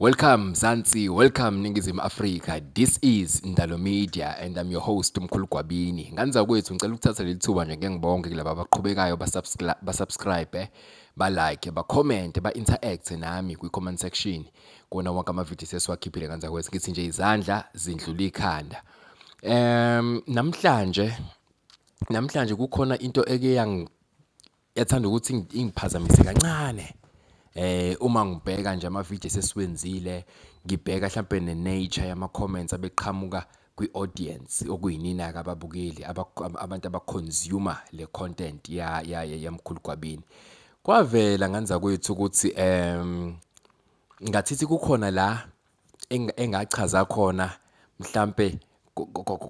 Welcome Zansi, welcome Ningizimu Afrika. This is Ndalo Media and I'm your host Mkhulu Gwabini. Nganza kwethu ngicela ukuthatha leli thuba nje ngeke ngibonge kulabo abaqhubekayo ba subscribe, ba like, ba comment, ba interact nami kwi comment section. kuwona wonke amavidiyo sesiwakhiphile kanza kwethu ngithi nje izandla zindlula ikhanda um namhlanje namhlanje kukhona into eke yathanda ukuthi ingiphazamise kancane eh uma ngibheka nje amavidiyo sesiwenzile ngibheka mhlambe nenature yama comments abeqhamuka kwi-audience okuyinina kababukeli abantu abaconsume le content ya ya yamkhulu Gwabini kwavela nganza kwethu ukuthi em ngathithi kukhona la engachaza khona mhlambe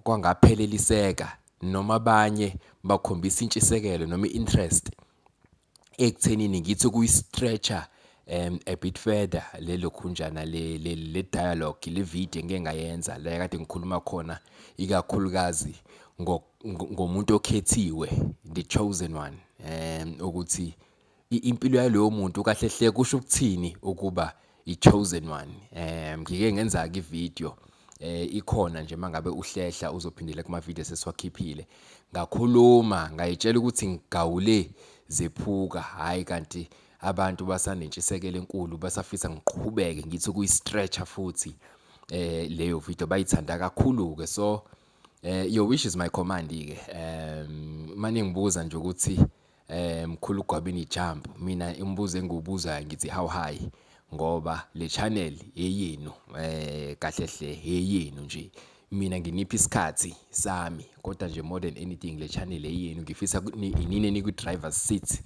kwangapheleliseka noma abanye bakhombisa intshisekelo noma i-interest ekuthenini ngithi kuyi-stretcher um a bit further lelo khunjana le, le, le dialogue le video ngike ngayenza la kade ngikhuluma khona ikakhulukazi ngomuntu okhethiwe the chosen one um ukuthi impilo yalowo muntu kahle hle kusho ukuthini ukuba iChosen One eh ngike ngenza ke video eh ikhona nje mangabe uhlehla uzophindela kuma video sesiwakhiphile ngakhuluma ngayitshela ukuthi ngigawule zephuka hayi kanti abantu basanentshisekelo enkulu basafisa ngiqhubeke ngithi kuyi stretcher futhi eh leyo video bayithanda kakhulu ke so eh your wish is my command ke um manje ngibuza nje ukuthi Eh mkhulu gwabini jump mina imibuzo engibuzayo ngithi how high ngoba le channel eyenu eh kahle hle eyenu nje mina nginiphi isikhathi sami kodwa nje more than anything le channel eyenu ngifisa inine nikwi driver seat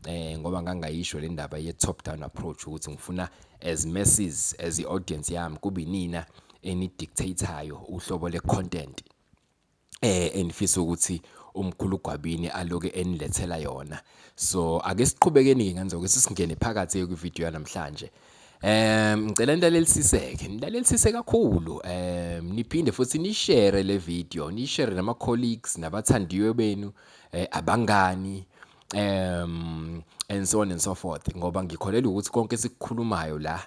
eh ngoba ngangayisho le ndaba ye top down approach ukuthi ngifuna as masses as i audience yami kube nina enidictateayo uhlobo le content eh engifisa ukuthi umkhulu gwabini aloke enilethela yona so ake siqhubekeni ke ngenzeke sisingene phakathi kwi video namhlanje Um ngicela nilalelisiseke, nilalelisise kakhulu um niphinde futhi nishare le video, nishare nama colleagues nabathandiwe benu eh, abangani um and so on and so forth ngoba ngikholelwa ukuthi konke esikukhulumayo la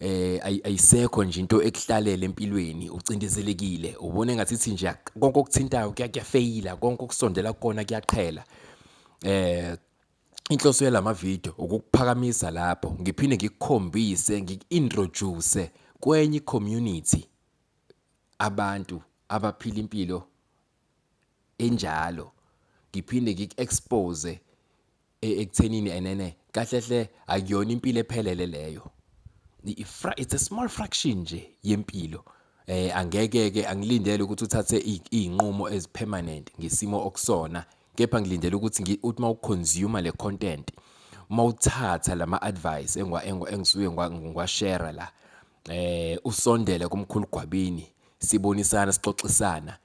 eh ayisekho nje into ekuhlalela empilweni ucindezelekile ubone ngathi ithi nje konke okuthintayo kuyafeyila konke okusondela kukona kuyaqhela eh inhloso yalama video ukukuphakamisa lapho ngiphinde ngikukhombise ngikintroduce kwenye community abantu abaphila impilo enjalo ngiphinde ngiku-expose e-, ekuthenini enene kahle hle akuyona impilo ephelele leyo it's a small fraction nje yempilo eh angeke ke angilindele ukuthi uthathe izinqumo ezipermanent ngesimo okusona kepha ngilindele ukuthi uthi uma uconsume le content uma uthatha lama advice engwa engisuke ngwa share la eh usondele kumkhulu gwabini sibonisana sixoxisana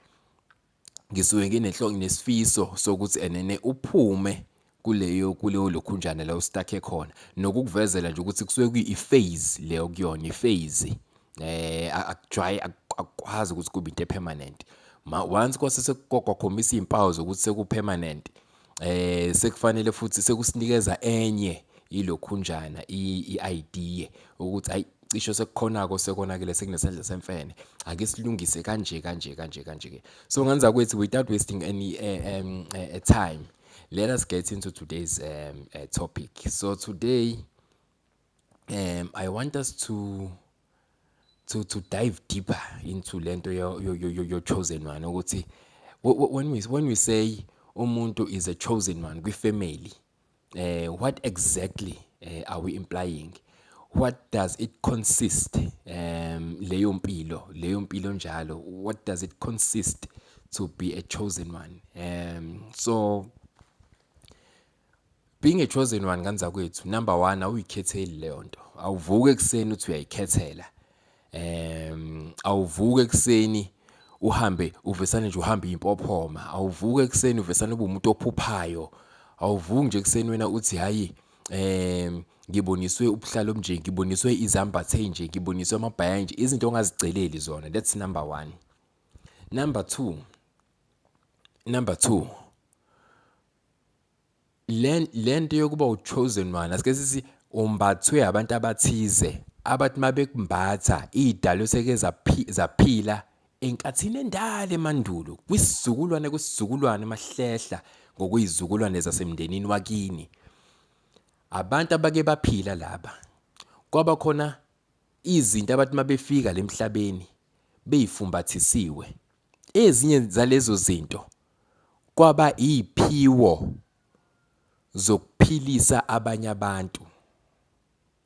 ngisuke nginenhlongi nesifiso sokuthi enene uphume kuleyo kuleyo lokhunjana la ustakhe khona nokukuvezela nje ukuthi kusuke kuyi-phase leyo kuyona i-phase eh akujwayi akwazi ukuthi kube into epermanent ma once kwase sekukhombisa izimpawu zokuthi sekupermanent eh sekufanele futhi sekusinikeza enye ilokhunjana i-idea ukuthi ayi cisho sekukhonako sekonakele sekunesandla semfene ake silungise kanje kanje kanje kanje ke so ngenza kwethi without wasting any uh, um, uh, time let us get into today's um, uh, topic so today um, i want us to to to dive deeper into lento yo yo yo yo chosen one ukuthi when we when we say umuntu is a chosen one kwi family eh what exactly eh, are we implying what does it consist um leyo mpilo leyo mpilo njalo what does it consist to be a chosen one um so Being a chosen one kanzakwethu number 1 awuyikhetheli leyo nto. Awuvuke ekseni uthi uyayikhethela. Ehm awuvuke ekseni uhambe uvesane nje uhambe impophoma. Awuvuke ekseni uvesane ube umuntu ophuphayo. Awuvuki nje ekseni wena uthi hayi ehm ngiboniswe ubuhlalo obunje ngiboniswe izambathe nje ngiboniswe amabhaya nje izinto ongaziceleli zona that's number 1 number 2 number 2 lento yokuba uchosen one asike sithi umbathwe abantu abathize abathi mabekumbatha idalo seke zaphila enkathini endala emandulo kwisizukulwane kwisizukulwane mahlehla ngokuyizukulwane zasemndenini wakini abantu abake baphila laba kwaba khona izinto abathi mabefika lemhlabeni beyifumbathisiwe Ezinye zalezo zinto kwaba iziphiwo zokuphilisa abanye abantu.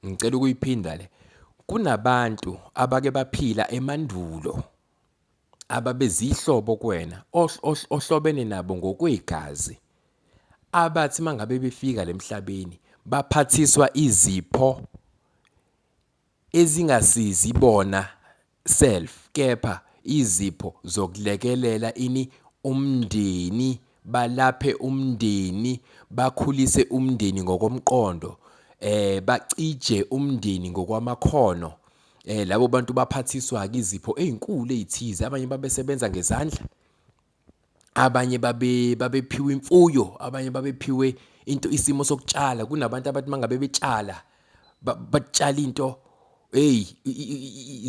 Ngicela ukuyiphinda le. Kunabantu abake baphila emandulo ababezihlobo kuwena ohlobene nabo ngokwegazi abathi mangabe befika lemhlabeni baphathiswa izipho ezingasizi bona self kepha izipho zokulekelela ini umndeni balaphe umndeni bakhulise umndeni ngokomqondo eh bacije umndeni ngokwamakhono eh labo bantu baphathiswa ke izipho ezinkulu ezithize abanye babesebenza ngezandla abanye babe babephiwe imfuyo abanye babephiwe into isimo sokutshala kunabantu abathi mangabe betshala batshala into hey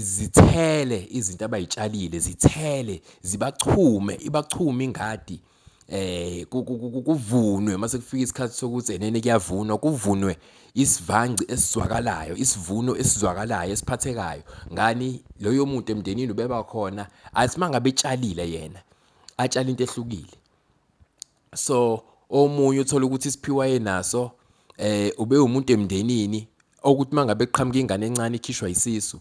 zithele izinto abayitshalile zithele zibachume ibachume ingadi eh kuvunwe mase kufika isikhathi sokuthi enene kuyavunwa kuvunwe isivangci esizwakalayo isivuno esizwakalayo esiphathekayo ngani loyo muntu emndenini ubeba khona asimanga betshalile yena atshala into ehlukile so omunye uthola ukuthi isiphiwa yenaso eh ube umuntu emndenini okuthi mangabe qhamuka ingane encane ikhishwa isisu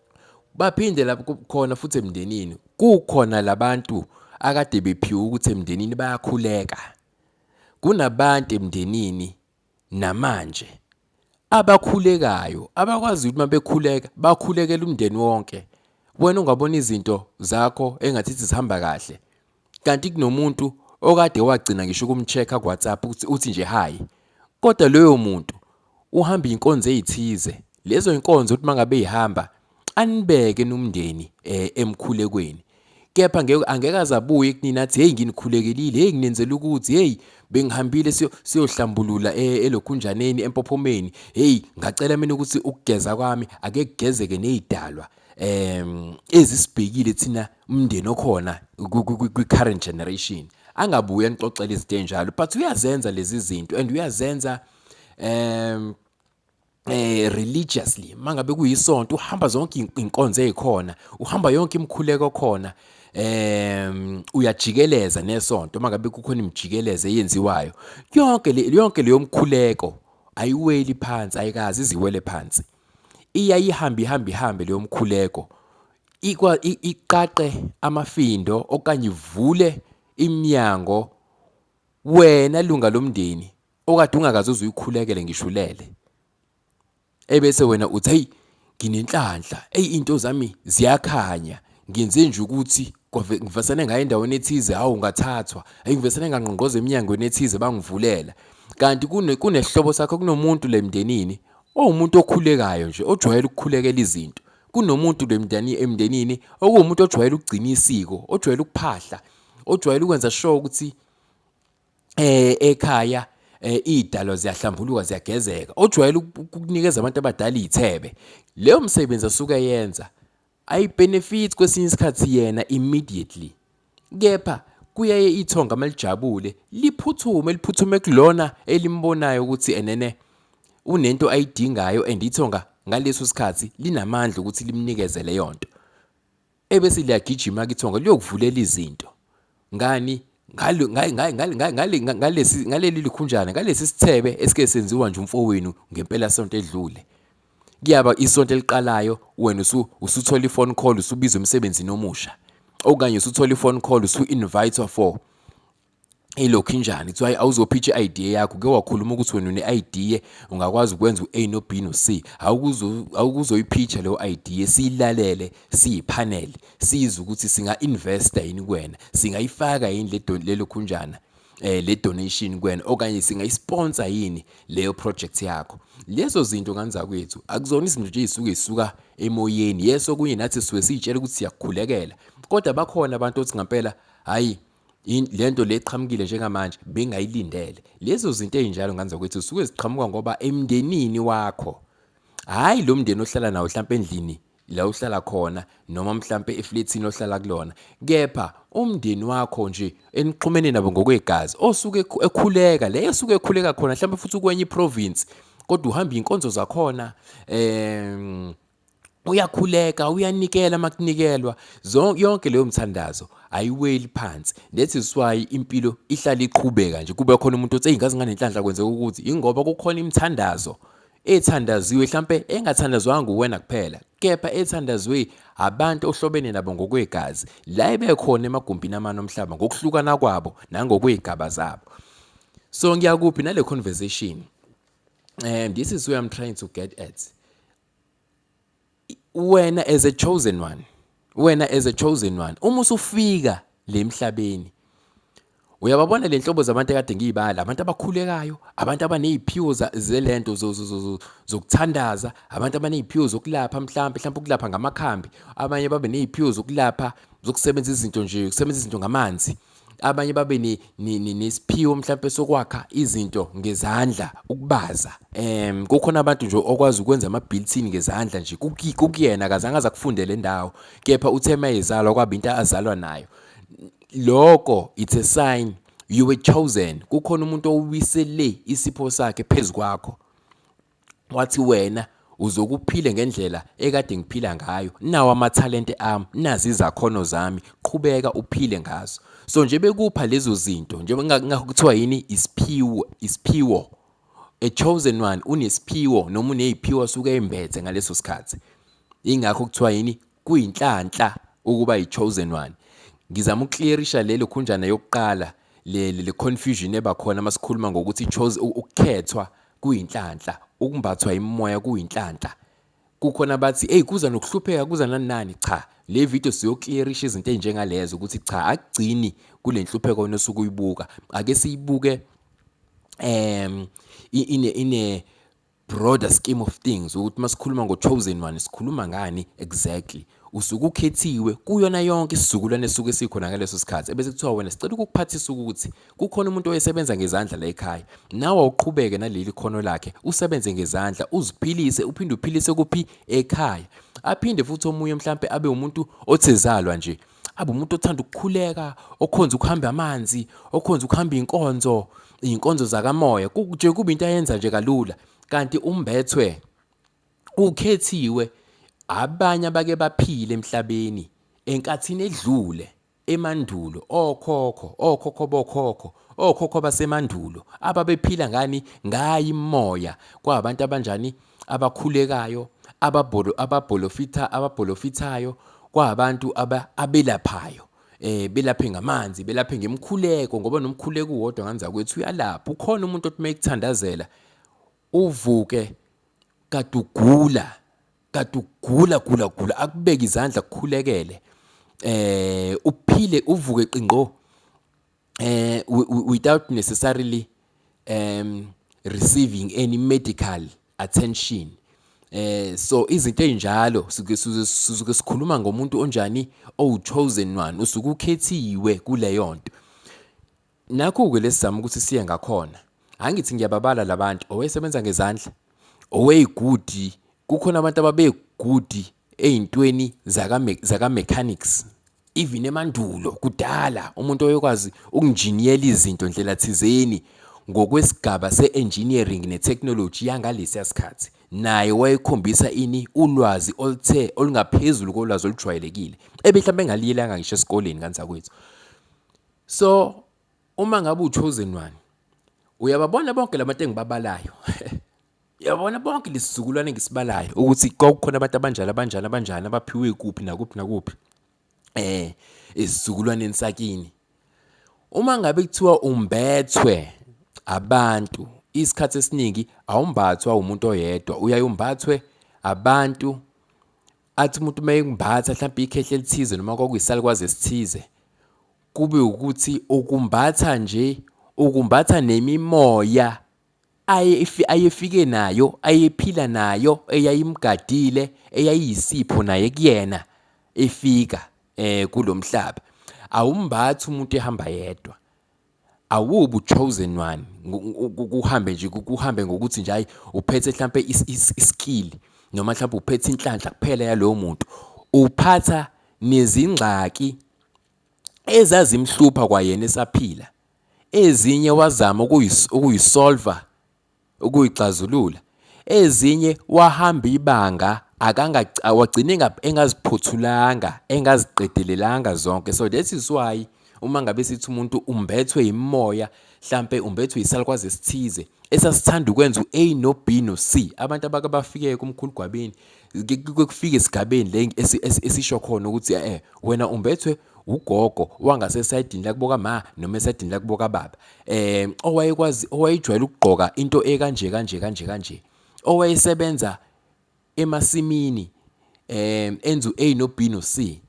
baphinde lapho khona futhi emndenini kukhona labantu akade bephiwe ukuthi emndenini bayakhuleka kunabantu emndenini namanje abakhulekayo abakwazi ukuthi mabekhuleka bakhulekela umndeni wonke wena ungabona izinto zakho engathi zihamba kahle kanti kunomuntu okade wagcina ngisho ukumcheck ku WhatsApp ukuthi uthi nje hi kodwa loyo muntu uhamba inkonzo ezithize lezo inkonzo uthi mangabe ihamba anibeke nomndeni eh, emkhulekweni kepha ngeke angeke azabuye kunina athi hey nginikhulekelile hey nginenzela ukuthi hey bengihambile siyohlambulula eh, elokhunjaneni empophomeni hey ngacela mina ukuthi ukugeza kwami ake kugezeke nezidalwa em ezisibhekile thina umndeni okhona kwi-current generation angabuye anixoxele izinto enjalo but uyazenza lezi zinto and uyazenza um eh religiously mangabe kuyisonto uhamba zonke inkonzo ezikhona uhamba yonke imikhuleko khona em uyajikeleza nesonto mangabe kukhona imijikeleza eyenziwayo yonke le yonke leyo mkhuleko ayiweli phansi ayikazi iziwele phansi iya ihamba ihamba ihambe leyo mkhuleko iqaqe amafindo okanye ivule iminyango wena lunga lomndeni okade ungakaze uzuyikhulekele ngisho ulele ebese wena uthi hey nginenhlanhla eyi into zami ziyakhanya ngenze nje ukuthi ngivesane ngayo endaweni ethize hawu ngathathwa eyi ngivesane ngangqongqoza eminyangweni ethize bangivulela kanti kunesihlobo sakho kunomuntu le mndenini owumuntu okhulekayo nje ojwayele ukukhulekela izinto kunomuntu bemndani emndenini okuwumuntu ojwayele ukugcina isiko ojwayele ukuphahla ojwayele ukwenza sure ukuthi eh ekhaya eh idalo ziyahlambuluka ziyagezeka ojwayele ukunikeza abantu abadala izithebe leyo msebenzi asuke yenza ayi benefits kwesinye isikhathi yena immediately Kepha kuyaye ithonga malijabule liphuthume liphuthume kulona elimbonayo ukuthi enene unento ayidingayo and ithonga ngaleso sikhathi linamandla ukuthi limnikeze leyo nto ebese liyagijima kithonga liyokuvulela izinto ngani ngaleli likhunjana ngalesi sithebe esike senziwa nje umfowenu ngempela sonto edlule kuyaba isonto eliqalayo wena usu usuthola ifone call usubizwa emsebenzini omusha okanye usuthola ifone call usu invitwa for ilokhu injani kuthiwa awuzophitha i-idea yakho ke wakhuluma ukuthi wena une-idea ungakwazi ukwenza u-a no-b no-c awukuzoyiphitha leyo idea siyilalele siyiphanele sizwe ukuthi singa-investa yini kuwena singayifaka yini lelo khunjana eh le donation kwena okanye singayisponsor yini leyo project yakho lezo zinto kanza kwethu akuzona izinto nje ezisuke zisuka emoyeni yeso kunye nathi siwe sitshela ukuthi siyakukhulekela kodwa bakhona abantu othi ngempela hayi lento leqhamukile njengamanje bengayilindele lezo zinto ezinjalo nganza kwethu suke ziqhamuka ngoba emndenini wakho hayi lo mndeni ohlala nawo mhlawumbe endlini la uhlala khona noma mhlampe eflethini ohlala kulona kepha umndeni wakho nje enixhumene nabo ngokwegazi osuke ekhuleka leyo osuke ekhuleka khona mhlampe futhi ukwenye iprovince kodwa uhamba inkonzo zakhona em uyakhuleka uyanikela makunikelwa yonke leyo mthandazo ayiweli phansi that is why impilo ihlala iqhubeka nje kube khona umuntu othi eyingazi nganenhlanhla kwenzeka ukuthi ingoba kukhona imithandazo ethandaziwe hlampe engathandazwanga nguwena kuphela kepha ethandazwe abantu ohlobene nabo ngokwegazi la ebekhona emagumbini amane omhlaba ngokuhlukana kwabo nangokwey'gaba zabo so ngiyakuphi nale conversation um this is where i'm trying to get at wena as a chosen one wena as a chosen one uma usufika le emhlabeni uyababona le nhlobo zabantu ekade ngiyibala abantu abakhulekayo abantu abaneziphiwo zelento zokuthandaza abantu abaneziphiwo zokulapha mhlawumbe mhlawumbe ukulapha ngamakhambi abanye babe neziphiwo zokulapha zokusebenza izinto nje ukusebenzisa izinto ngamanzi abanye babe nesiphiwo mhlawumpe sokwakha izinto ngezandla ukubaza um kukhona abantu nje okwazi ukwenza ama-builtin ngezandla nje kukuyena akazange aze akufunde le ndawo kepha uthe uma ezalwa kwaba into azalwa nayo loko it's a sign you were chosen kukhona umuntu owisele isipho sakhe phezu kwakho Wathi wena uzokuphile ngendlela ekade ngiphila ngayo nawo amathalente ami nazi izakhono zami qhubeka uphile ngazo so nje bekupha lezo zinto njengoba kuthiwa yini isiphiwo isiphiwo a chosen one unesiphiwo noma uneziphiwo suke embethe ngaleso sikhathi ingakho kuthiwa yini Kuyinhlanhla ukuba yi chosen one. Ngizama ukuclearisha lelo khunjana yokuqala le le confusion eba khona masikhuluma ngokuthi chose ukukhethwa kuyinhlanhla, ukumbathwa imimoya kuyinhlanhla. Kukhona abathi hey kuza nokuhlupheka kuza nani nani cha le video siyoclearisha izinto ezinjengalezo ukuthi cha akugcini kule nhlupheko wena osuke uyibuka ake siyibuke um ine ine broader scheme of things ukuthi uma sikhuluma ngo-chosen one sikhuluma ngani exactly usuke ukhethiwe kuyona yonke isizukulwane esuke sikhona ngaleso sikhathi ebese kuthiwa wena sicela ukukuphathisa ukuthi kukhona umuntu oyesebenza ngezandla la ekhaya nawe awuqhubeke naleli khono lakhe usebenze ngezandla uziphilise uphinde uphilise kuphi ekhaya aphinde futhi omunye mhlampe abe umuntu othezalwa nje abe umuntu othanda ukukhuleka okhonza ukuhamba amanzi okhonza ukuhamba inkonzo inkonzo zakamoya nje kuba into ayenza nje kalula kanti umbethwe ukhethiwe abanye abake baphile emhlabeni enkathini edlule emandulo okhokho okhokho bokhokho okhokho basemandulo ababephila ngani ngayi imoya kwabantu abanjani abakhulekayo, ababholo ababholofitha ababholofithayo kwabantu aba, abelaphayo eh belaphe ngamanzi belaphe ngemkhuleko ngoba nomkhuleko uwodwa nganza kwethu uyalapha ukhona umuntu othi mayekuthandazela uvuke kadugula kadugula gula gula akubeke izandla kukhulekele eh uphile uvuke qingqo eh without necessarily um receiving any medical attention eh so izinto ezinjalo suke suke sikhuluma ngomuntu onjani owu chosen one usuke ukhethiwe kuleyo nto nakho ke lesizama ukuthi siye ngakhona angithi ngiyababala labantu owesebenza ngezandla oweyigudi kukhona abantu ababegudi eyintweni zaka zaka mechanics even emandulo kudala umuntu oyokwazi ukunjiniyela izinto ndlela thizeni ngokwesigaba se-engineering ne-technology yangalesiya sikhathi naye wayekhombisa ini ulwazi oluthe olungaphezulu kolwazi olujwayelekile ebe mhlawumbe engaliyelanga ngisho esikoleni kanzakwethu so uma ngabe uchosen one uyababona bonke labantu engibabalayo Yabona bonke lesizukulwane ngisibalayo ukuthi kwakukhona abantu abanjalo abanjalo abanjalo abaphiwe kuphi nakuphi nakuphi eh isizukulwaneni sakini uma ngabe kuthiwa umbethwe abantu isikhathi esiningi awumbathwa umuntu oyedwa uyaye umbathwe abantu athi umuntu uma ekumbatha mhlawumbe ikhehle elithize noma kwakuyisalukwazi esithize kube ukuthi ukumbatha nje ukumbatha nemimoya ayefike nayo, ayephila nayo, eyayimgadile, eyayiyisipho naye kuyena efika eh kulomhlaba. Awumbathi umuntu ehamba yedwa. Awubu chosen one kuhambe nje kuhambe ngokuthi nje hayi uphethe mhlambe iskill noma mhlambe uphethe inhlanhla kuphela yalowo muntu. Uphatha nezingxaki ezazimhlupha kwayena esaphila ezinye wazama ukuyisolva ukuyixazulula ezinye wahamba ibanga akanga wagcine engaziphothulanga engaziqedelelanga zonke so that is why uma ngabe sithi umuntu umbethwe yimoya hlampe umbethwe yisalukwazi esithize esasithanda ukwenza u-A no-B no-C abantu abake bafike kumkhulu gwabini kufike esigabeni le esisho khona ukuthi eh wena umbethwe ugogo wangase esayidini lakubo kama noma esayidini lakubo kababa eh owayekwazi owayejwayele ukugqoka into ekanje kanje kanje kanje owayesebenza emasimini eh enzu A no B no C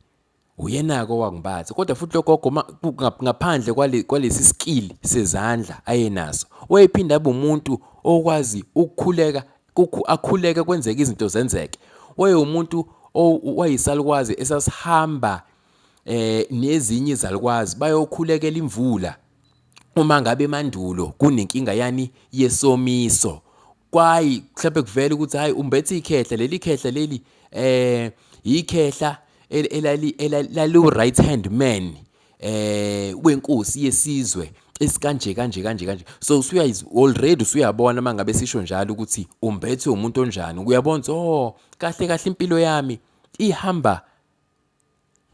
Uyena-ke owangibathi kodwa futhi logogo ngaphandle kwalesi skill sezandla ayenaso wayephinde abe umuntu okwazi ukukhuleka akhuleke kwenzeke izinto zenzeke wayewumuntu wayisalukwazi esasihamba eh nezinye izalukwazi bayokhulekela imvula uma ngabe emandulo kunenkinga yani yesomiso kwayi mhlawumbe kuvela ukuthi hayi umbethe ikhehla leli khehla leli eh yikhehla elali elali right hand man eh wenkosi yesizwe esikanje kanje kanje kanje so usuya already usuyabona mangabe sisho njalo ukuthi umbethe umuntu onjani uyabona oh kahle kahle impilo yami ihamba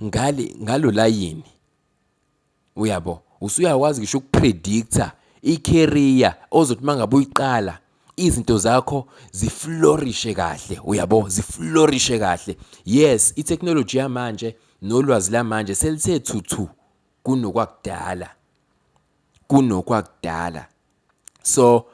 ngale ngalo layini Uyabo, usuyakwazi ngisho ukupredictor i-career ozothi mangabe uyiqala izinto zakho ziflorishe kahle uyabo ziflorishe kahle yes i-technology yamanje nolwazi lamanje selithe thuthu kunokwakudala kunokwakudala so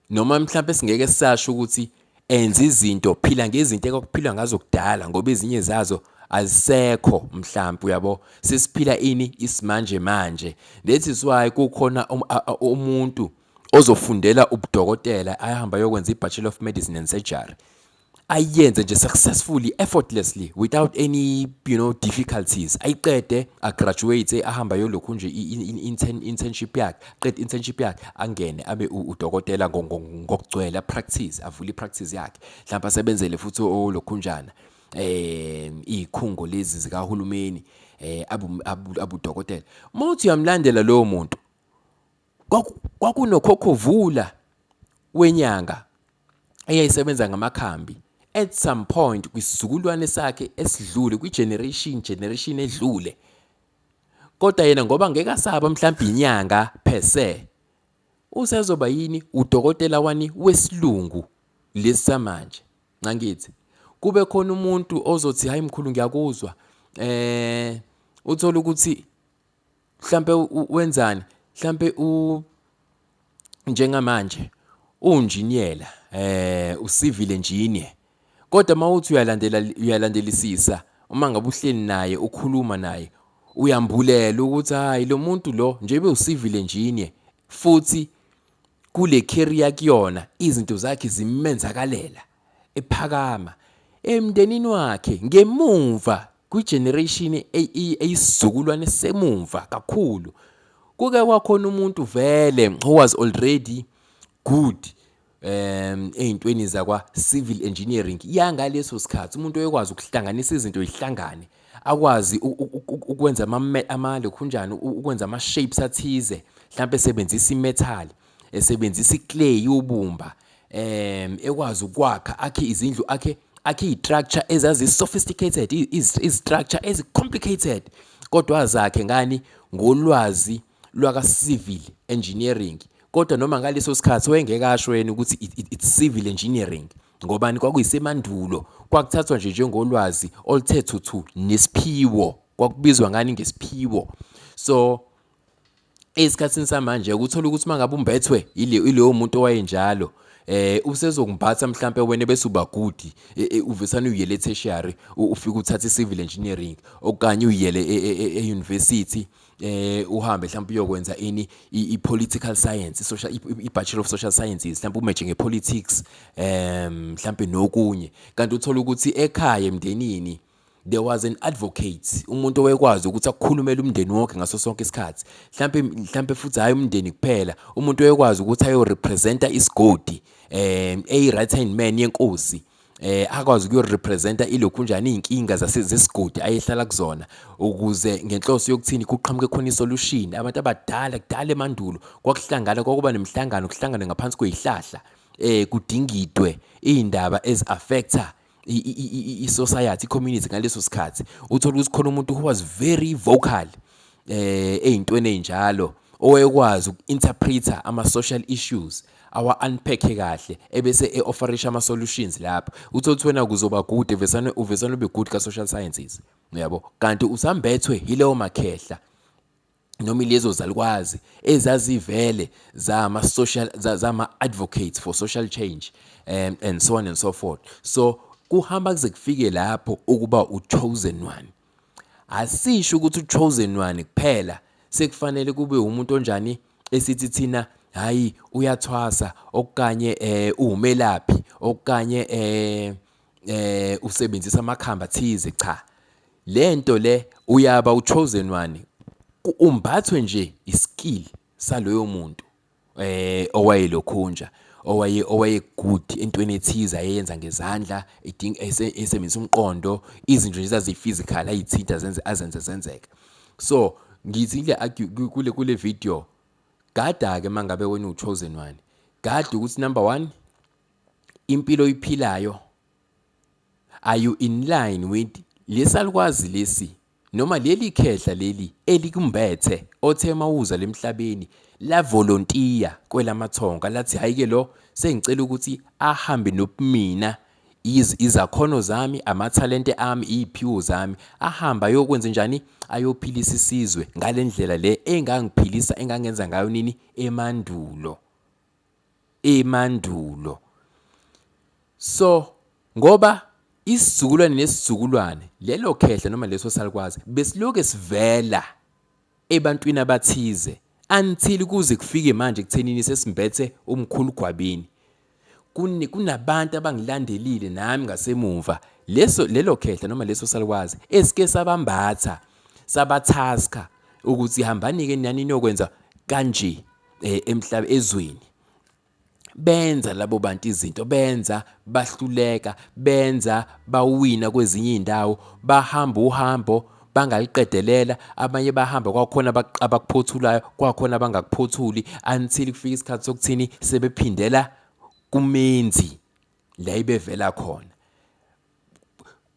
noma mhlawumbe singeke sasho ukuthi enza izinto phila ngezinto ekwakuphilwa ngazo kudala ngoba ezinye zazo azisekho mhlawumbe uyabo sesiphila ini isimanje manje that is why kukhona um, umuntu ozofundela ubudokotela ayahamba yokwenza i-bachelor of medicine and surgery ayenze nje successfully effortlessly without any you know difficulties ayiqede a graduate ahamba yolokhu nje intern internship yakhe qed internship yakhe angene abe udokotela ngokugcwele practice avule practice yakhe mhlawumbe asebenzele futhi olokhunjana eh ikhungo lezi zikahulumeni eh abu abudokotela uma uthi uyamlandela lowo muntu kwakunokhokhovula wenyanga eyayisebenza ngamakhambi at some point kwisizukulwane sakhe esidlule kwi-generation generation edlule kodwa yena ngoba ngeke asaba mhlawumbe inyanga per se usezoba yini udokotela wani wesilungu lesi samanje ncangithi kube khona umuntu ozothi hayi mkhulu ngiyakuzwa eh uthola ukuthi mhlampe wenzani mhlampe u njengamanje unjiniyela eh usivile njinye kodwa mawuthi uyalandela uyalandelisisa uma ngabe uhleli naye ukhuluma naye uyambulela ukuthi hayi lo muntu lo njebe usivile njinye futhi kule career kuyona izinto zakhe zimenzakalela ephakama emndenini wakhe ngemumva kwi-generation eyisizukulwane semumva kakhulu kuke kwakhona umuntu vele who was already good um ey'ntweni zakwa-civil engineering yangaleso sikhathi umuntu oyekwazi ukuhlanganisa izinto yihlangane akwazi ukwenza amalokhunjani ukwenza ama-shapes athize mhlawumpe esebenzisa imethali esebenzisa iclay ubumba um ekwazi ukwakha akhe izindlu akhe akhe izistructure ezazi sophisticated izistructure ezi complicated kodwa zakhe ngani ngolwazi lwaka civil engineering kodwa noma ngaleso sikhathi wayengeke asho yena ukuthi it's civil engineering ngobani kwakuyisemandulo kwakuthathwa nje njengolwazi oluthe thuthu nesiphiwo kwakubizwa ngani ngesiphiwo so esikhatsini samanje ukuthola ukuthi mangabe umbethwe ileyo muntu owayenjalo eh usezokumphatha mhlambe wena bese uba good e, e, uvesana uyele tertiary ufika uthatha icivil engineering okanye uyele euniversity e, eh uhambe mhlawumbe uyokwenza ini ipolitical science social ibachelor of social sciences mhlawumbe umeje ngepolitics em mhlawumbe nokunye kanti uthola ukuthi ekhaya emndenini there was an advocate umuntu owekwazi ukuthi akukhulumele umndeni wonke ngaso sonke isikhathi mhlampe mhlampe futhi hayi umndeni kuphela umuntu owekwazi ukuthi ayo representa isigodi eh a right hand man yenkosi eh akwazi ukuyorepresenta ilokhu njani izinkinga zasezisigodi ayehlala kuzona ukuze ngenhloso yokuthini kuqhamuke khona isolution abantu abadala kudala emandulo kwakuhlangana kwakuba nemhlangano kuhlangana ngaphansi kwezihlahla eh kudingidwe izindaba eziaffecta i-society i-community ngaleso sikhathi uthole ukuthi khona umuntu who was very vocal eh ezintweni ezinjalo owekwazi uku-interpreta ama-social issues awa-unpacke kahle ebese e-offerisha ama-solutions lapho uthole ukuthi wena kuzoba good uvesane uvesane ube good ka-social sciences uyabo kanti usambethwe yileyo makhehla noma ilezo zalukwazi ezazivele zama social zama advocates for social change and, um, and so on and so forth so kuhamba kuze kufike lapho ukuba uchosen one asisho ukuthi uchosen one kuphela sekufanele kube umuntu onjani esithi thina hayi uyathwasa okanye eh umelaphi okanye eh eh usebenzisa amakhamba thize cha lento le uyaba uchosen one umbathwe nje iskill saloyo muntu eh owayelokhunja owaye owaye good entweni ethize ayenza ngezandla idinga esebenzisa umqondo izinto nje zazi physical ayithinta zenze azenze zenzeka so ngithi le kule kule video gada ke mangabe wena uchosen one gada ukuthi number 1 impilo oyiphilayo are you in line with lesalukwazi lesi noma leli khehla leli elikumbethe othe mawuza lemhlabeni la volunteer kwelamathonga lathi hayike lo sengicela ukuthi ahambe nobumina izakhono zami amathalente ami iziphiwo zami ahamba ayokwenza njani ayophilisa isizwe ngalendlela le engangiphilisa engangenza ngayo nini emandulo emandulo so ngoba isizukulwane nesizukulwane lelo khehla noma leso salukwazi besiloke sivela ebantwini abathize until kuze kufike manje kuthenini sesimbethe umkhulu gwabini kunabantu abangilandelile nami ngasemuva leso lelo khehla noma leso salukwazi esike sabambatha sabathaska ukuthi hambani-ke nani niyokwenza kanje eh, emhlaba ezweni benza labo bantu izinto benza bahluleka benza bawina kwezinye indawo bahamba uhambo bangaliqedelela abanye bahamba kwakhona abakuphothulayo kwakhona abangakuphothuli until kufika isikhathi sokuthini sebephindela kumenzi la ibevela khona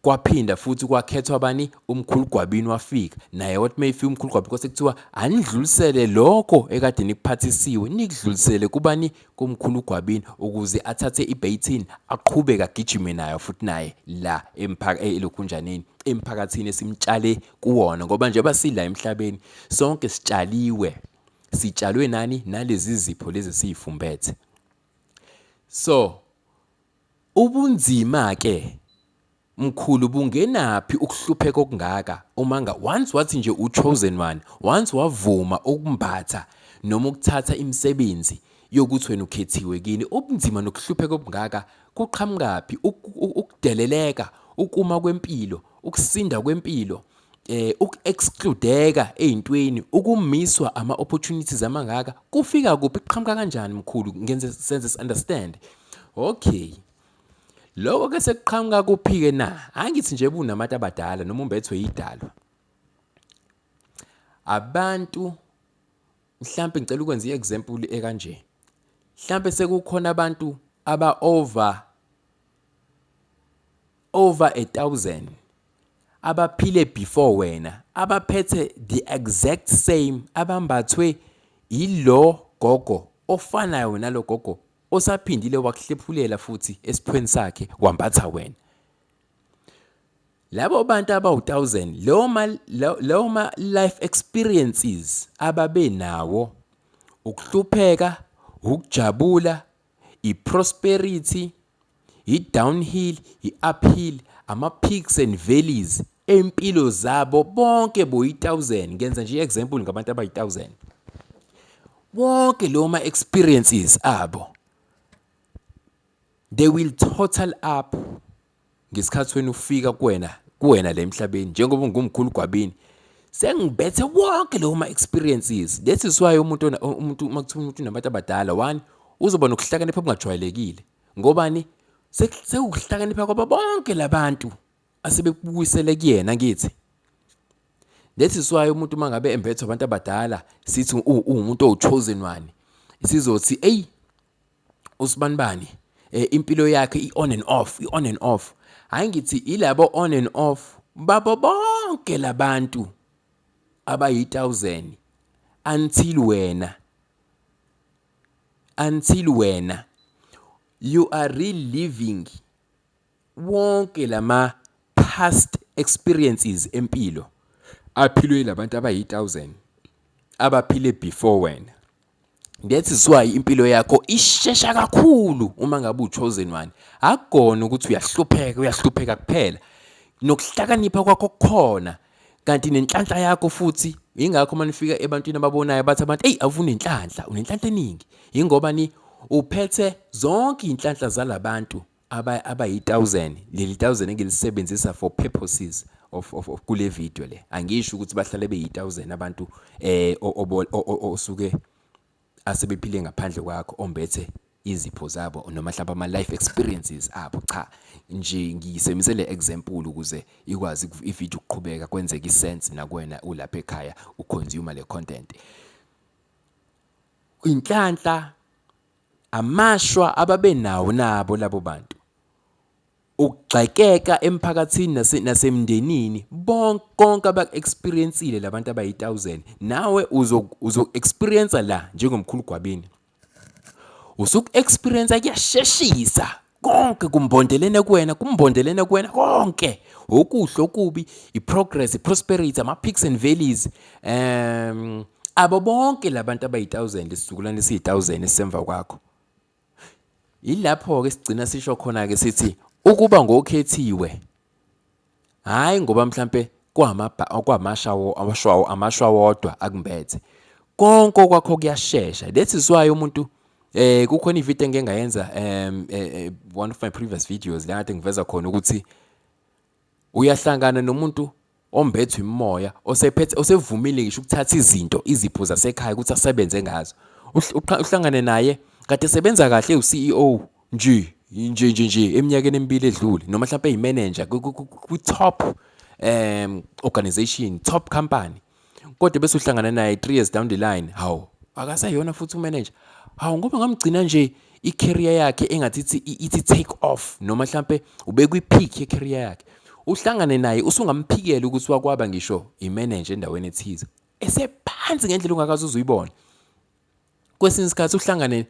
kwaphinda futhi kwakhethwa bani umkhulu gwabini wafika naye wathi uma efika umkhulu gwabini kwase kuthiwa anidlulisele lokho ekade nikuphathisiwe nikudlulisele kubani kumkhulu gwabini ukuze athathe ibeyithini aqhubeke agijime nayo futhi naye la eh, elokhunjaneni emphakathini esimtshale kuwona ngoba njengoba sila emhlabeni sonke sitshaliwe sitshalwe nani nalezi zipho lezi siyifumbethe so Ubunzima ke mkhulu bungenaphi ukuhlupheka okungaka umanga once wathi nje u chosen one once wavuma ukumbatha noma ukuthatha imisebenzi yokuthi wena ukhethiwe kini ubunzima nokuhlupheka obungaka kuqhamukaphi ukudeleleka ukuma kwempilo ukusinda kwempilo eh uku-excludeka ey'ntweni ukumiswa ama-opportunities amangaka kufika kuphi kuqhamuka kanjani mkhulu ngenze senze si-understand okay loko ke sekuqhamuka kuphi-ke na angithi nje bunamati abadala noma umbethwe yidalwa abantu mhlampe ngicela ukwenza i-example ekanje mhlampe sekukhona abantu aba-over over a thousand abaphile before wena abaphethe the exact same abambathwe yilo gogo ofanayo nalo gogo osaphindile wakuhlephulela futhi esiphweni sakhe wambatha wena labo bantu abawu-1000 leyo ma leyo ma life experiences ababe nawo ukuhlupheka ukujabula i-prosperity, i-downhill, i-uphill, ama-peaks and valleys empilo zabo bonke boyi-1000 ngenza nje i-example ngabantu abayi-1000 wonke lo ma-experiences abo they will total up ngesikhathi wena ufika kuwena kuwena le emhlabeni njengoba ungumkhulu gwabini sengibethe wonke lowo ma-experiences this is why umuntu umuntu uma kuthiwa umuntu unabantu abadala one uzoba nokuhlakanipha okungajwayelekile ngobani sekuhlakanipha kwaba bonke labantu asebekubuyisele kuyena ngithi this is why umuntu uma ngabe embethwa abantu abadala sithi uwumuntu owuchosen one sizothi eyi usibanibani eh, impilo yakhe i-on and off i-on and off hhayi ngithi ilabo on and off babo bonke labantu abayi-1000 until wena until wena you are reliving Wonke lama past experiences empilo aphilwe ilabantu abayi 1000 abaphile before wena. That is why impilo yakho ishesha kakhulu uma ngabe uchosen one. Akugona ukuthi uyahlupheka, uyahlupheka kuphela. Nokuhlakanipha kwakho kukhona kanti nenhlanhla yakho futhi yingakho uma nifika ebantwini ababonayo bathi abantu eyi avunenhlanhla unenhlanhla eningi yingoba ni uphethe zonke iy'nhlanhla zalabantu aba abayi-1000 leli 1000 engilisebenzisa for purposes of, of, of kule video le angisho ukuthi bahlale beyi-1000 abantu eh osuke asebephile ngaphandle kwakho ombethe izipho zabo noma mhlawumbe ama-life experiences abo cha nje ngiyisebenzise le example ukuze ikwazi ivideo ukuqhubeka kwenzeke isense nakwena ulapha ekhaya uconsume le content inhlanhla Amashwa ababenawo nabo labo bantu. Ukugxekeka emphakathini nase, nasemndenini bonke konke abaku-experiencile labantu abayi-1000 nawe uzo-experienca la njengomkhulu gwabini. Usuku-experienca kuyasheshisa konke kumbondelene kuwena kumbondelene kuwena konke okuhle okubi iprogress iprosperity ama-peaks and valleys um abo bonke labantu abayi-1000 isizukulwane esiyi-1000 esisemva kwakho yilapho-ke sigcina sisho khona-ke sithi ukuba ngokhethiwe Hhayi ngoba mhlampe kwamashawo amashwa wodwa akumbethe konke okwakho kuyashesha that is why umuntu eh kukhona ivideo engike ngayenza um eh, eh, one of my previous videos la kade ngiveza khona ukuthi uyahlangana nomuntu ombethwe imoya osephethe osevumile ngisho ukuthatha izinto izipho zasekhaya ukuthi asebenze ngazo uhlangane naye kade esebenza kahle uCEO Nje, nje, nje, nje, eminyakeni emibili edlule, noma mhlawumpe eyimenenja kwi-top um organization, top company, kodwa bese uhlangana naye three years down the line, hawu, akasayona futhi umenenja. Hawu, ngoba ngamgcina nje i-career yakhe engathi ithi ithi take off noma mhlampe ubekwi-peak ye-career yakhe uhlangane naye usungamphikela ukuthi wakwaba ngisho i-manager endaweni ethize esephansi ngendlela ungakaze uzuyibona kwesinye isikhathi uhlangane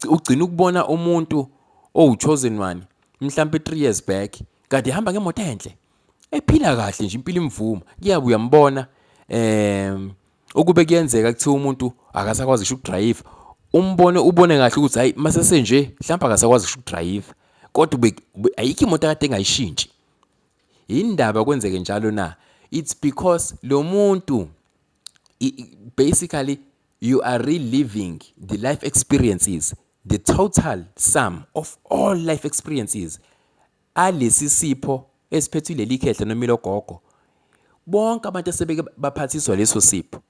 ugcina ukubona umuntu owuchosen one mhlampe 3 years back kade hamba ngemoto enhle ephila kahle nje impilo imvuma kuyabe uyambona em ukube kuyenzeka kuthiwa umuntu akasakwazi kusho ukudrive umbone ubone kahle ukuthi hayi masese nje mhlawumbe akasakwazi kusho ukudrive kodwa ayikho imoto kade engayishintshi yindaba kwenzeke njalo na it's because lo muntu basically you are reliving the life experiences the total sum of all life experiences alesi sipho esiphethwe leli khehla noma ilogogo bonke abantu asebeke baphathiswa leso sipho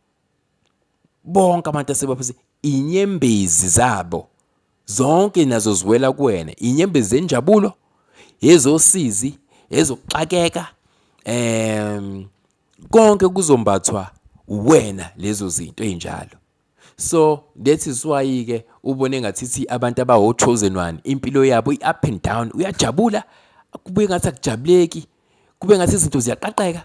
bonke abantu asebaphathiswa inyembezi zabo Zonke nazo ziwela kuwena, inyembezi zenjabulo, ezosizi, ezokuxakeka, em konke kuzombathwa wena lezo zinto ezinjalo. So that is why ke ubone ngathithi abantu abawo chosen one impilo yabo i up and down uyajabula kube ngathi akujabuleki kube ngathi izinto ziyaqaqeka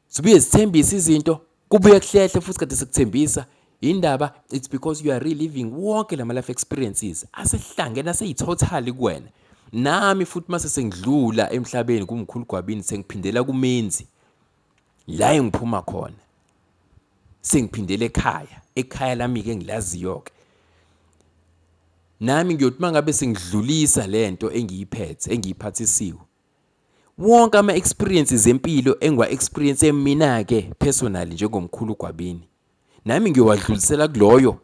Zibuye zithembise izinto kubuye kuhlehle futhi kade sikuthembisa indaba it's because you are reliving wonke lama life experiences asehlangene aseyithothali kuwena nami futhi mase sengidlula emhlabeni kumkhulu gwabini sengiphindela kumenzi la engiphuma khona sengiphindele ekhaya ekhaya lami ke ngilaziyo ke nami ngiyothi mangabe sengidlulisa lento engiyiphethe engiyiphathisiwe wonke ama experiences empilo engiwa experience mina ke personally njengomkhulu uGwabini nami ngiyowadlulisela kuloyo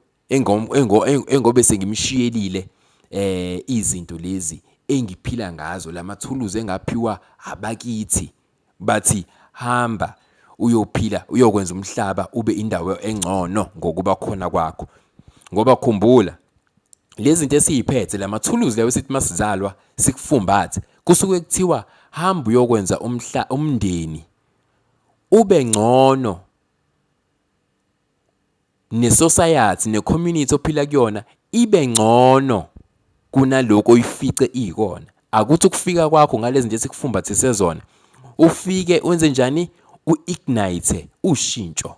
engobe sengimshiyelile eh izinto lezi engiphila ngazo lamathuluzi engaphiwa abakithi bathi hamba uyophila uyokwenza umhlaba ube indawo engcono ngokuba khona kwakho ngoba khumbula lezi zinto esiyiphethe la mathuluzi lawo esithi masizalwa sikufumbathe kusuke kuthiwa hamba uyokwenza umhla umndeni ube ngcono nesociety necommunity ophila kuyona ibe ngcono kunaloko oyifice ikona akuthi ukufika kwakho ngalezi nje sikufumbathise zona ufike wenze njani u-ignite ushintsho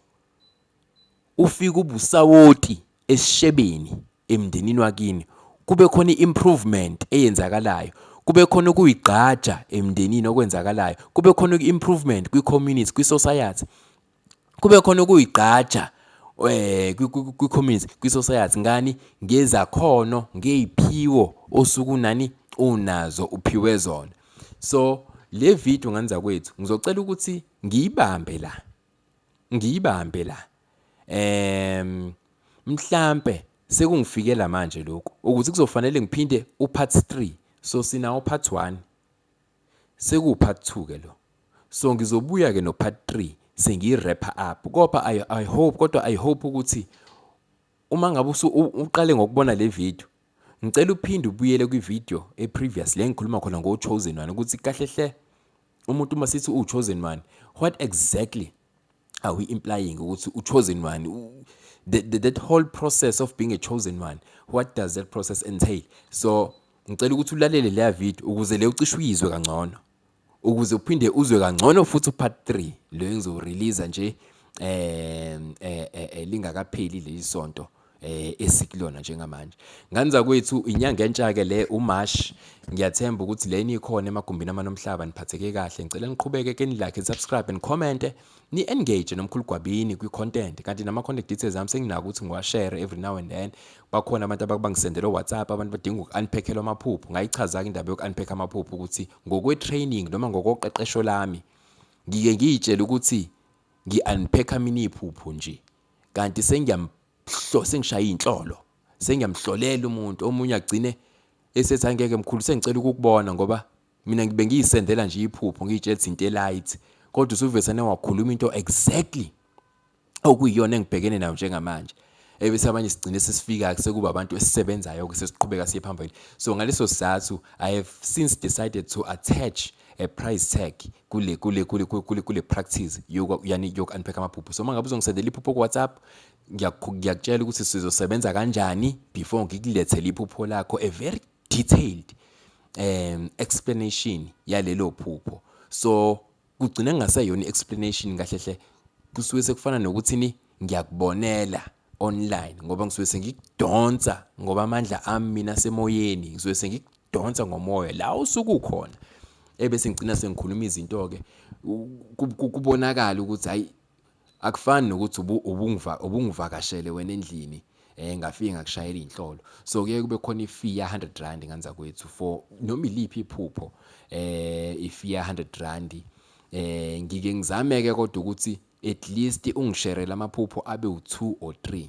ufike ubusawoti esishebeni emndenini wakini kube khona i-improvement eyenzakalayo kube khona ukuyigqaja emndenini okwenzakalayo kube khona i-improvement kwi-community kwi-society kube khona ukuyigqaja eh kwi-community kwi-society ngani ngezakhono ngeyiphiwo osuku nani unazo uphiwe zona so le video nganiza kwethu ngizocela ukuthi ngiyibambe la Ngiyibambe la. Ehm mhlambe sekungifikela manje lokhu ukuthi kuzofanele ngiphinde upart 3 so sinawo part 1 seku part 2 ke lo so ngizobuya ke no part 3 sengiyirapper up kodwa I, I hope kodwa I hope ukuthi uma ngabe uqale ngokubona le video Ngicela uphinde ubuyele kwi-video e-previous le engikhuluma khona ngo-chosen one ukuthi kahle hle umuntu uma sithi uwu-chosen one what exactly are we implying ukuthi u-chosen one the, the, that whole process of being a chosen one what does that process entail so ngicela ukuthi ulalele leya video ukuze le ucishe uyizwe kangcono ukuze uphinde uzwe kangcono futhi upart 3 lo engizowurelease nje eh, eh, eh, eh lingakapheli leli sonto eh esikulona njengamanje ngani zakwethu inyanga entsha ke le uMarch ngiyathemba ukuthi leni ikhona emagumbini amanomhlaba niphatheke kahle ngicela niqhubeke ke nilike subscribe and comment ni engage nomkhulu gwabini kwi content kanti nama contact details ami senginako ukuthi ngiwashare every now and then bakhona abantu ababangisendela WhatsApp abantu badinga ukunpackela amaphupho ngayichaza ke indaba yokunpack amaphupho ukuthi ngokwe-training noma ngokoqeqesho lami ngike ngiyitshele ukuthi ngi-unpack-a mina iphupho nje kanti sengishaya iy'nhlolo sengiyamhlolela umuntu omunye agcine esethi angeke mkhulu sengicela ukukubona ngoba mina ngibe ngiyisendela nje iphupho ngiyitshela ukuthi into elight kodwa usuvesane wakhuluma into exactly okuyiyona engibhekene nayo njengamanje ebese abanye sigcine sesifika sekuba abantu esisebenzayo-ke sesiqhubeka siye phambili so ngaleso sizathu i have since decided to attach a price tag kule kule kule kule kule practice yani yoku-unpack amaphupho so uma ngabe uzongisendela iphupho ku-whatsapp ngiyakutshela ukuthi sizosebenza kanjani before ngikulethele iphupho lakho a very detailed um explanation yalelo phupho so kugcina kungaseyona i-explanation kahle hle kusuke sekufana nokuthini ngiyakubonela online ngoba ngisuke sengikudonsa ngoba amandla ami mina semoyeni ngisuke sengikudonsa ngomoya la usuke ukhona ebese ngigcina sengikhuluma izinto-ke kubonakala ukuthi hhayi Akufani nokuthi ubungivakashele wena endlini eh ngafike ngakushayela inhlolo so kuye kube khona ifee ya 100 rand nganza kwethu for noma iliphi iphupho eh ifee ya 100 rand eh ngike ngizame ke kodwa ukuthi at least ungisherele amaphupho abe u2 or 3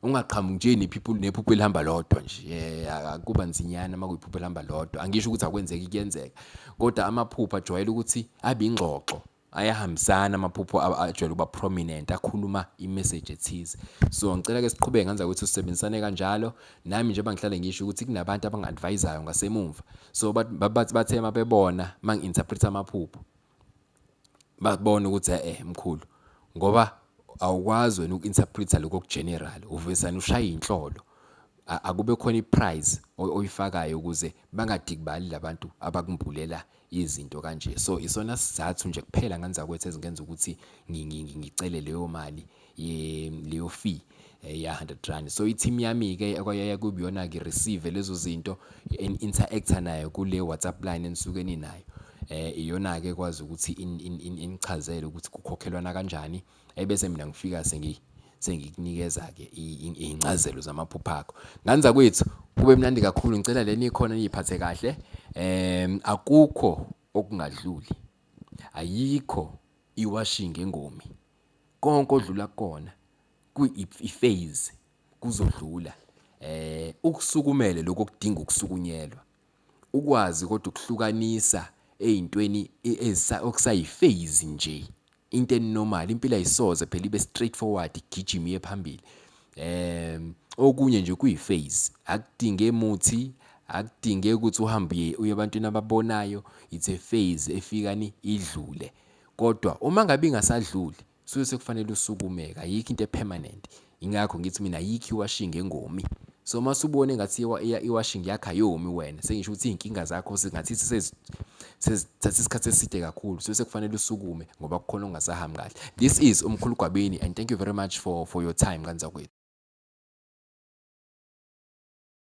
ungaqhamuki nje nephupho nephupho elihamba lodwa nje eh, akuba nzinyana uma kuyiphupho elihamba lodwa angisho ukuthi akwenzeki kuyenzeka kodwa amaphupho ajwayele ukuthi abe ingxoxo ayahambisana amaphupho ajwayele ukuba prominent akhuluma imessage ethize so ngicela ke siqhubeke ngenza ukuthi usebenzisane kanjalo nami njengoba ngihlale ngisho ukuthi kunabantu abangi-advisayo ngasemumva so bathi bathe uma bebona uma ngi-interpreta amaphupho babone ukuthi eh mkhulu ngoba awukwazi wena uku-interpreta lokho okugeneral uvesane ushaya inhlolo akube khona iprize oyifakayo ukuze bangadikibali labantu abakumbulela izinto kanje so isona sizathu nje kuphela nganzakwethu ezingenza ukuthi ngicele leyo mali leyo fee eh, ya 100 rand so i-team yami ke ekwayaya kubiyona ngi-receive lezo zinto interact-a nayo kule WhatsApp line enisuke ninayo eh iyona ke kwazi ukuthi inichazele ukuthi kukhokhelwana kanjani ebese mina ngifika sengi sengikunikeza ke izincazelo zamaphupho akho ngani zakwethu kube mnandi kakhulu ngicela leni ikhona niyiphathe kahle em akukho okungadluli ayikho iwashing engomi konke odlula kona kuyiphase kuzodlula eh ukusukumele lokho kudinga ukusukunyelwa ukwazi kodwa ukuhlukanisa eyintweni okusayiphase nje into enormal impilo ayisoze phela ibe straight forward igijima iye phambili um okunye nje kuyiphase akudinge muthi akudinge ukuthi uhambe uye ebantwini ababonayo it's a phase efikani idlule kodwa uma ngabe ingasadluli suke sekufanele usukumeke ayikho into epermanent ingakho ngithi mina ayikho iwashing engomi so uma subone ngathi iwashing yakho ayomi wena sengisho ukuthi izinkinga zakho singathi sesithatha isikhathi eside kakhulu so sekufanele usukume ngoba kukhona ongasahambi kahle this is umkhulu gwabini and thank you very much for for your time kanzakwethu